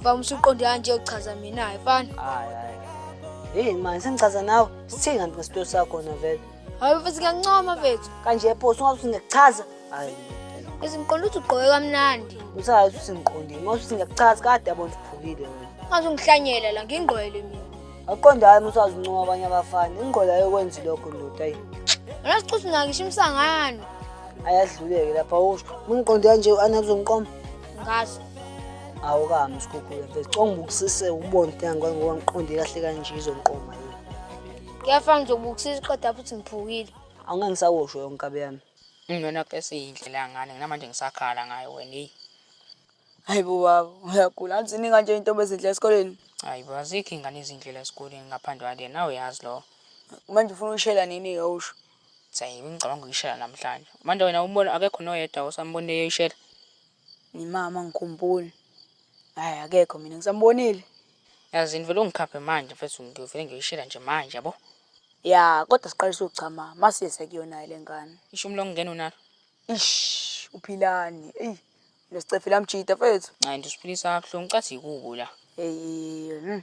Mfana umsuqondi kanje uchaza mina hayi mfana. Hayi hayi. Hey man sengichaza nawe sithenga ngesito sakho na vele. Hayi mfethu ngiyancoma mfethu. Kanje phoso ungathi ngichaza. Hayi. Izimqondo uthi ugqoke kamnandi. Usazi ukuthi ngiqondile. Uma uthi ngiyakuchaza kade yabona uphukile wena. Ngaze ungihlanyela la ngingqwele mina. Aqonda hayi uma usazi uncoma abanye abafana. Ingqola yokwenza lokho ndoda ayi. Wena sicuthi nakisho imsangano. Ayadluleke lapha usho. Ungiqonde kanje u-Anna kuzomqoma. ngazo awukami usikhukhula mfethu conga ubukisise ubone ukuthi angikwazi ngoba ngiqonde kahle kanje izonqoma yini kuyafana nje ubukisisa iqeda futhi ngiphukile awungangisawosho yonke nkabe yami Ngiyona kesi indlela ngane nginamanje ngisakhala ngayo wena hey. Hayi bo baba uyagula anzi ninga nje intombi ezindlela esikoleni. Hayi bo azikho ingane izindlela esikoleni ngaphandle kwale nawe yazi lo. Manje ufuna ushela nini ke usho? Sayi ngicabanga uyishela namhlanje. Manje wena ubona akekho noyedwa osambonile eyishela. Ngimama ngikhumbule. Hayi akekho mina ngisambonile. Yazi ngivele ungikhaphe manje mfethu ngivele ngiyishela nje manje yabo. Ya kodwa siqalisa ukuchama masiye sekuyona le ngane. Ishumi lokungena unalo. Ish uphilani. Ey lesicefe lamjida mfethu. Hayi nje usiphilisa kabuhlungu cathi yikubo la. Hey. Hmm.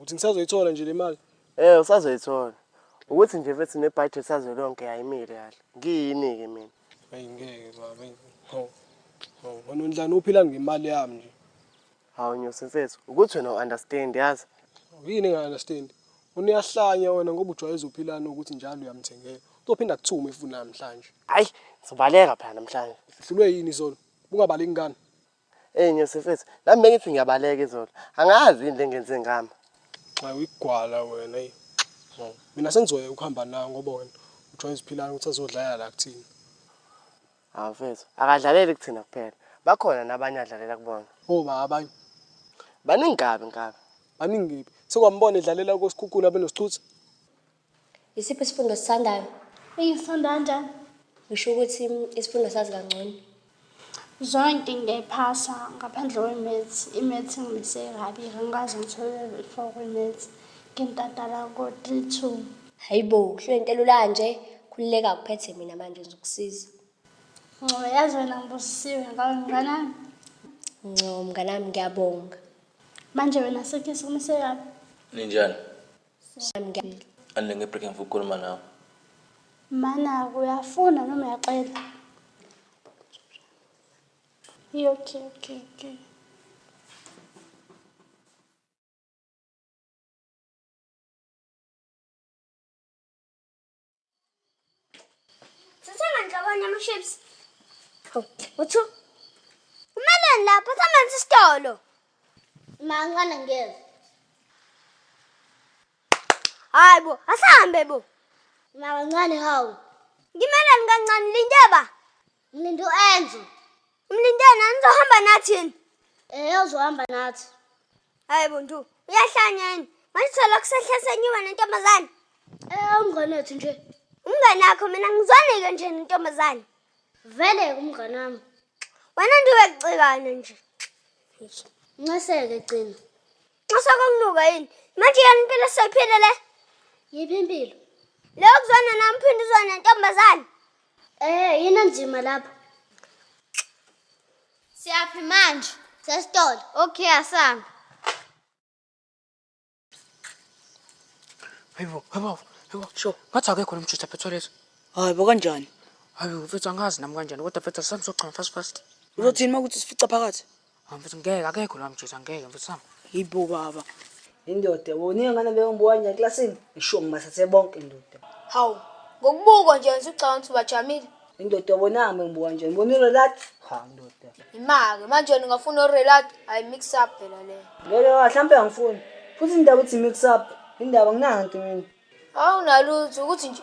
Uthi ngisazoyithola nje le mali. Eh usazoyithola. Ukuthi nje mfethu nebudget sazolonke ayimile kahle. Ngiyini-ke mina? Ayi ngeke baba. ayi, Hawu. Hawu, wena undlani uphila ngemali yami nje. Hawu Nyosi mfethu, ukuthi wena u-understand yazi. Yini enga-understand? Wena uyahlanya wena ngoba ujwayeza uphilani ukuthi njalo uyamthengela. Uzophinda kuthiwa uma efuna namhlanje. Hayi, ngizobaleka phela namhlanje. Uhlulwe yini izolo? Ungabaleki ngani? Hey ngiyosifethu, nami bengithi ngiyabaleka izolo. Angazi yini lengenze ngami. Xa uyigwala wena hey. Oh. Mina sengizoya ukuhamba nawe ngoba wena ujoyina isiphilana ukuthi azodlala la kuthina. Hawu mfethu, akadlaleli kuthina kuphela. Bakhona nabanye adlalela kubona. Oh ba abanye. Baningi kabi ngabe. Baningi ngiphi? Sekwambona edlalela kosikhukhula benosithutha. Yisiphi isifundo osithandayo? Engifunda kanjani? Ngisho ukuthi mm, isifundo sazi kangcono. Zonke ngiyayiphasa ngaphandle kwe-maths. I-maths ngimise kabi, ngikaze ngithole i-four kwi-maths. Ngintatala ko-three two. Hayi bo, kuhlwe into elula kanje. Khululeka kuphethe mina manje ngizokusiza. Ngcobo yazi wena ngibusisiwe ngawe mnganami. Nco mnganami ngiyabonga. Manje wena sekhe sikumise kabi. Ninjani? Siyamngena. Anle ngebreak ngifuna ukukhuluma nawe. Mana uyafuna noma uyacela? Iyo, Okay, okay, okay. Sithanga nhlobonye ama-chips. Hawu, uthu. Umeleni lapho samanzi isitolo. Mancane ngiyeza. Hayi bo, asahambe bo. Mancane hawu. Ngimeleni kancane lindaba. Mlindi uenzo Mlindi yena nizohamba nathi yini Eh uzohamba nathi Hayi buntu uyahlanya yini manje thola kusehlasenyiwe nentombazane Eh umngane wethu nje umngane wakho mina ngizwanike nje nentombazane Vele umngane wami wena ndiwe kucikana nje Nceseke gcina Nxosa kokunuka yini? Manje yena impilo soyiphile le. Yiphi impilo? Le okuzona nami phinde uzona ntombazane. Eh, yini nzima lapha. Siyaphi manje? Sesitolo. Okay, asihamba. Hayibo, hayibo, hayibo. Sho, ngathi akekho lo mjutha phethwe lezo. Hayi bo kanjani? Hayi mfethu angazi nami kanjani kodwa mfethu asihambise ogcina fast fast. Uzothini uma ukuthi sifica phakathi? Hayi mfethu ngeke akekho la mjesu angeke mfethu sam. Yibo baba. Indoda wona ingane beyombuwanya eklasini isho ngibathathe bonke indoda. Hawu. Ngokubukwa nje wena ucabanga ukuthi ubajamile. Indoda wona ame ngibuwanja ngibona urelat. Ha indoda. Imake manje wena ungafuna urelat I mix up phela le. Ngeke mhlambe angifuni. Futhi indaba uthi mix up. Indaba nginanto mina. Awunalutho ukuthi nje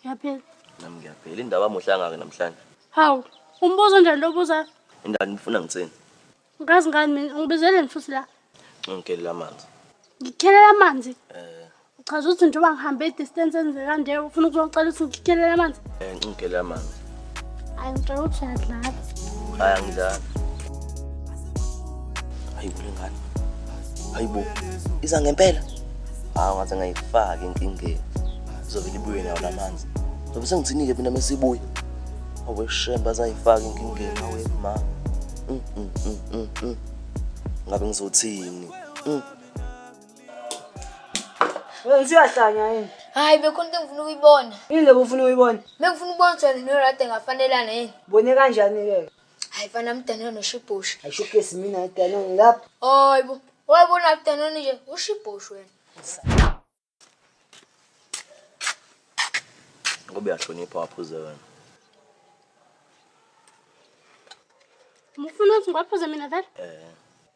Ngiyaphela. Nami ngiyaphela. Indaba amuhle angake namhlanje. Hawu, umbuzo nje lo buza. Indaba nifuna ngitsini? Ngazi ngani mina ngibizeleni futhi la. Ngikelela amanzi. Ngikelela amanzi? Eh. Uchaza ukuthi njengoba ngihambe distance enze kanje ufuna ukuzocela ukuthi ngikelela amanzi? Eh, ngikelela amanzi. Ay ngicela ukuthi uyadlala. Hayi angidlali. Hayi bule ngane. Hayi bo. Iza ngempela. Hawu ah, ngathi ngayifaka enkingeni. Izovele ibuye nawo lamanzi. Ngoba sengithini ke mina mesibuya. Awe shemba zayifaka enkingeni awe ma. Mm, mm, mm, mm, mm. Ngabe ngizothini? Mm. Wena usuyahlanya yini? Hayi bekhona into engifuna ukuyibona. Yini lebo ufuna ukuyibona? Bengifuna ukubona ukuthi wena noRate ngafanelana yini. Bone kanjani ke? Hayi fana mdanona noshibhosha. Ayishukesi mina idana ngilapha. Hayibo. Wayibona mdanona nje ushibhosha wena. Ngoba uyahlonipha waphuze wena. Mufuna ukuthi ngwaphuze mina vele? Eh.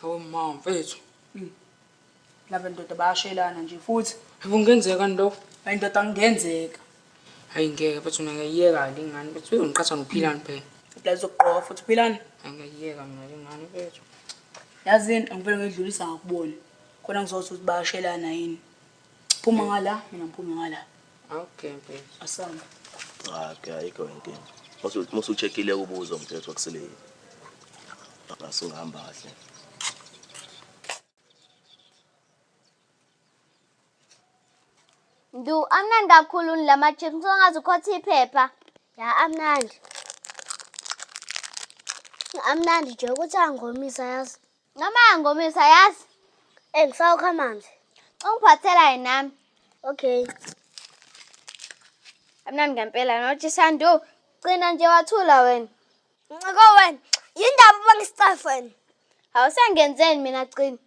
Hawu ma mfethu. Laba ndoda bayashelana nje futhi. Hayi kungenzeka ndo. Hayi ndoda kungenzeka. Hayi ngeke mfethu mina ngiyiyeka le ngane mfethu uyongiqhatha nophilani phela. Kodwa izokugqoka futhi philani. Hayi ngiyiyeka mina le ngane mfethu. Yazini angivele ngidlulisa ngakubona. Khona ngizothi ukuthi bayashelana yini. Phuma ngala, mina ngiphume ngala. Okay, babe. Asamba. Ah, ke ayikho inkinga. Musu musu checkile ubuzo mthetho akusile yini. Asungihamba kahle. Ndu amnandi kakhulu la ma-chips songaze ukhothe iphepha. Ya amnandi. Amnandi nje ukuthi angomisa yazi. Noma ngomisa yazi. Eh ngisawukha amanzi. Ungiphathela yini nami? Okay. Amnandi ngempela nothi Sandu. Cina nje wathula wena. Nciko wena. Yindaba ubangisicafa wena. Awusengenzeni mina cina.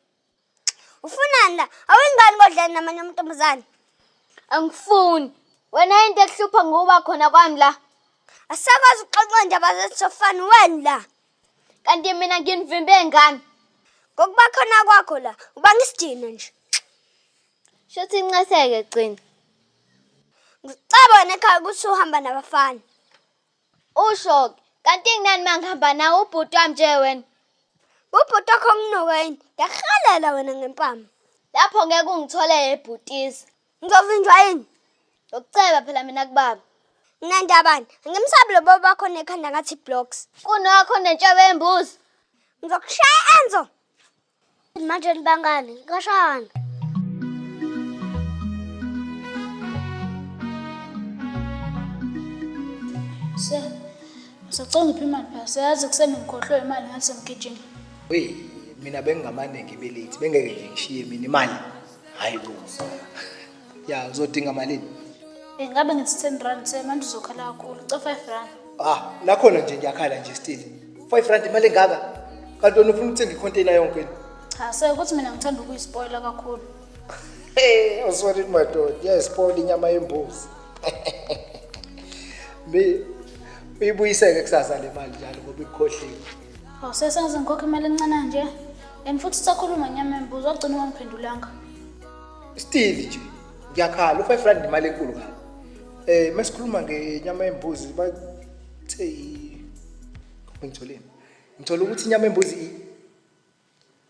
Ufunani la? Awengani kodlani namanye amantombazane? Angifuni. Wena into ekuhlupha ngokuba khona kwami la. Asakwazi ukuxoxa indaba zesofani wena la. kanti mina nginivimbe ngani ngokuba khona kwakho la uba ngisidina nje shuthi inceseke gcina ngicabone ekhaya ukuthi uhamba nabafana usho-ke kanti nginani uma ngihamba nawo ubhuti wami nje wena ubhuti wakho nginuka yini ngiyakuhalela wena ngempama lapho ngeke ungitholele bhutisa Ngizovinjwa yini? Ngokuceba phela mina kubaba. Nginandabani? Ngimsabi lo baba wakho nekhanda ngathi blocks. Kunokho nentshebe embuzi. Ngizokushaya Enzo. Manje nibangani? Ngashana. Se. Sacela ngiphi imali phela. Siyazi kuseni ngikhohlwe imali ngathi semgijima. Hey, mina bengingamane ngibe late. Bengeke nje ngishiye mina imali. hayi bo ya uzodinga malini ingabe ngi-ten rand semanje uzokhala kakhulu ca five rand ah nakhona nje ngiyakhala nje still five rand imali engaka kanti wena ufuna ukuthenga ikhonteyina yonke ni cha sekuthi mina ngithanda ukuyispoyila kakhulu Hey, I'm sorry madoda. Yes, Paul inyama yembuzi. Mi uyibuyiseke kusasa le mali njalo ngoba ikhohliwe. Awusesazi ngikhokha imali encane nje. And futhi sakhuluma nyama embuzo wagcina ungangiphendulanga. Still nje ngiyakhala u-5 rand nemali enkulu kabi. Eh masikhuluma ngenyama yembuzi bathe ngitholeni. Ngithola ukuthi inyama yembuzi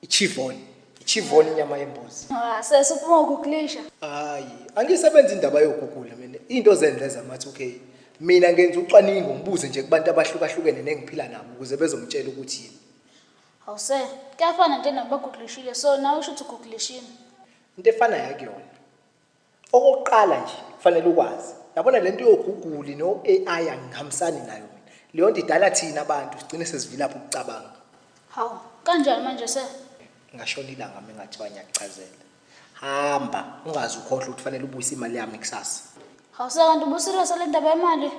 ichivoni ichivoni inyama yembuzi Ah, sesi uphuma ukuklisha. hayi angisebenzi indaba yokugugula mina into zenze zamathi okay mina ngenza ucwaningo ngibuze nje kubantu abahlukahlukene nengiphila nabo ukuze bezongitshela ukuthi yini Awuse, kuyafana nje nabo baguglishile. So nawe usho ukuthi uguglishile. into efanayo akuyona Okokuqala nje kufanele ukwazi. Yabona lento yoGoogle no AI angihambisani nayo mina. Leyo nto idala thina abantu sigcine sesivilapha ukucabanga. Hawu, kanjani manje sir? Ngashona ilanga mina ngathiwa ngiyakuchazela. Hamba, ungazi ukhohlwa ukuthi kufanele ubuyise imali yami kusasa. Hawu sir kanti ubuserious le ndaba yemali?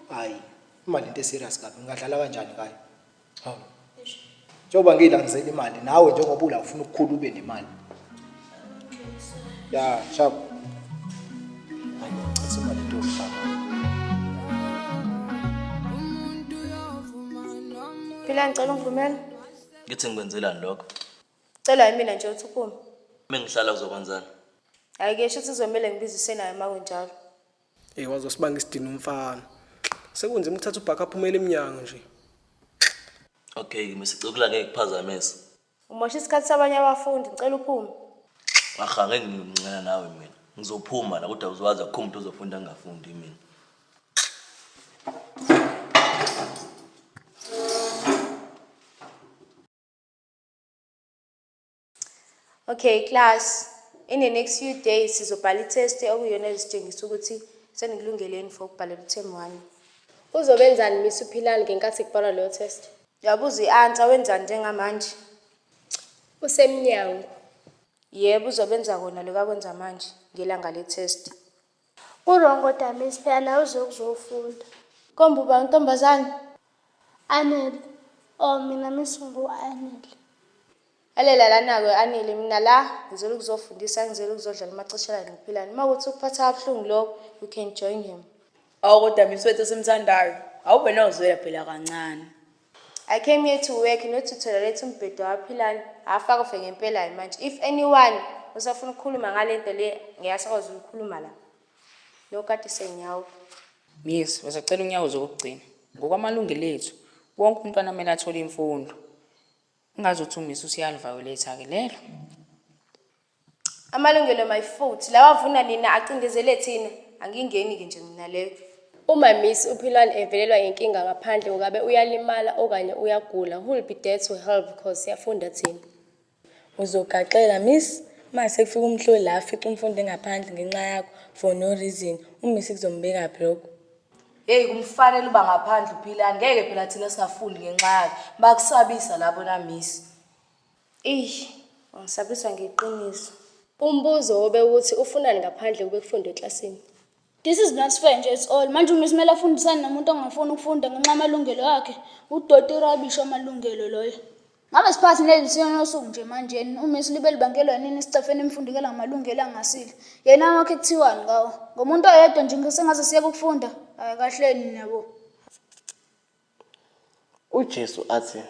Hayi, imali into eserious kabi. Ngingadlala kanjani ngayo? hawu njengoba ngiyilangisela imali nawe njengoba ula ufuna ukukhula ube nemali ya shabo hayi ngicela imali into yokuhlala Phila ngicela ungivumele. ngithi ngikwenzelani lokho Cela yimina nje uthi uphume. uma ngihlala uzokwenzani Hayi ke shuthi kuzomele ngibize usenayo uma kunjalo. Hey wazosibanga isidini umfana. Sekunzima ukuthatha ubhaka aphumele emnyango nje. Okay, misicukula ngeke kuphazamisa. Umosha isikhathi sabanye abafundi, ngicela uphume. Aha, ngeke ngimncela nawe mina. Ngizophuma la kodwa uzowazi akukho umuntu ozofunda ngingafundi mina. Okay class, in the next few days sizobhala i-test okuyona ezitshengisa ukuthi senikulungele yini for ukubhalela u-term one. Uzobenzani Miss uPhilani ngenkathi kubhalwa leyo test? Uyabuza i-answer wenzani njengamanje? Usemnyango. Yebo uzobenza kona lokho akwenza manje ngelanga le-test. Uwrong kodwa miss phela nawe uze ukuzofunda. Komba uba untombazane. Anele. Oh mina miss ngu-anele. Alela lana-ke anele mina la ngizela ukuzofundisa ngizela ukuzodlala umaceshelane ngiphilane uma ukuthi ukuphatha kabuhlungu lokho you can join him awu kodwa miss wethu simthandayo awube nozwela phela kancane I came here to work not to tolerate umbhedo waphilani hafa kufe ngempela hayi manje if anyone usafuna ukukhuluma ngale nto le ngeyasakwazi ukukhuluma la nokati senyawo miss besacela unyawo zokugcina ngokwamalungelo ethu wonke umntwana kumele athole imfundo ungazothi umiss usiyaliviolate-ke lelo Amalungelo my foot. Lawa vuna nina acindezele thina. Angingeni ke nje mina leyo. Uma Miss uPhilwani evelelwa yinkinga ngaphandle ukabe uyalimala okanye uyagula who'll be there to help cause siyafunda thina. Uzogaxela miss uma sekufika umhloli la afica umfundi engaphandle ngenxa yakho for no reason umiss kuzombekaphi lokho. Hey kumfanele uba ngaphandle uphilani ngeke phela thina singafundi ngenxa yakhe bakusabisa labo na miss. Eish, ungisabisa ngeqiniso. Umbuzo wobe ukuthi ufunani ngaphandle kube kufundwa eklasini. This is not fair nje it's all. Manje uMiss kumele afundisane nomuntu ongafuni ukufunda ngenxa yamalungelo akhe. Udoti rubbish amalungelo loyo. Ngabe siphathi neli siyonosuku nje manje yena uMiss libe libangelwa nini isicefeni emfundekela ngamalungelo angasile. Yena wakhe kuthiwani ngawo? Ngomuntu oyedwa nje ngisengaze siyeke ukufunda. Hayi kahleni nabo. UJesu athi,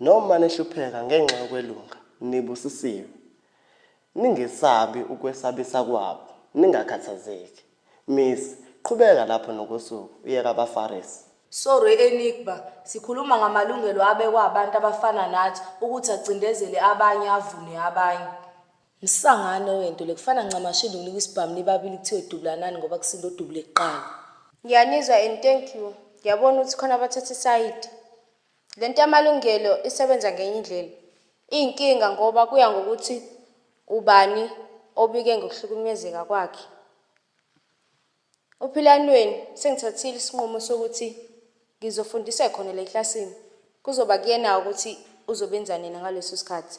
Noma nihlupheka ngenxa yokwelunga, nibusisiwe. Ningesabi ukwesabisa kwabo, ningakhathazeki. Miss, qhubeka lapho nokosuku, uye kabaFarisi. Sorry Enigma, sikhuluma ngamalungelo abekwa abantu abafana nathi ukuthi acindezele abanye avune abanye. Msangano wentule kufana ncamashi lungile kwisibhamu nibabili kuthiwe dubulanani ngoba kusinda odubule kuqala. Ngiyanizwa and thank you. Ngiyabona ukuthi khona abathatha isayidi. Le nto yamalungelo isebenza ngenye indlela. Iyinkinga ngoba kuya ngokuthi ubani obike ngokuhlukumezeka kwakhe. Ophilanweni sengithathile isinqumo sokuthi ngizofundisa khona la eklasini. Kuzoba kuyena ukuthi uzobenza nina ngaleso sikhathi.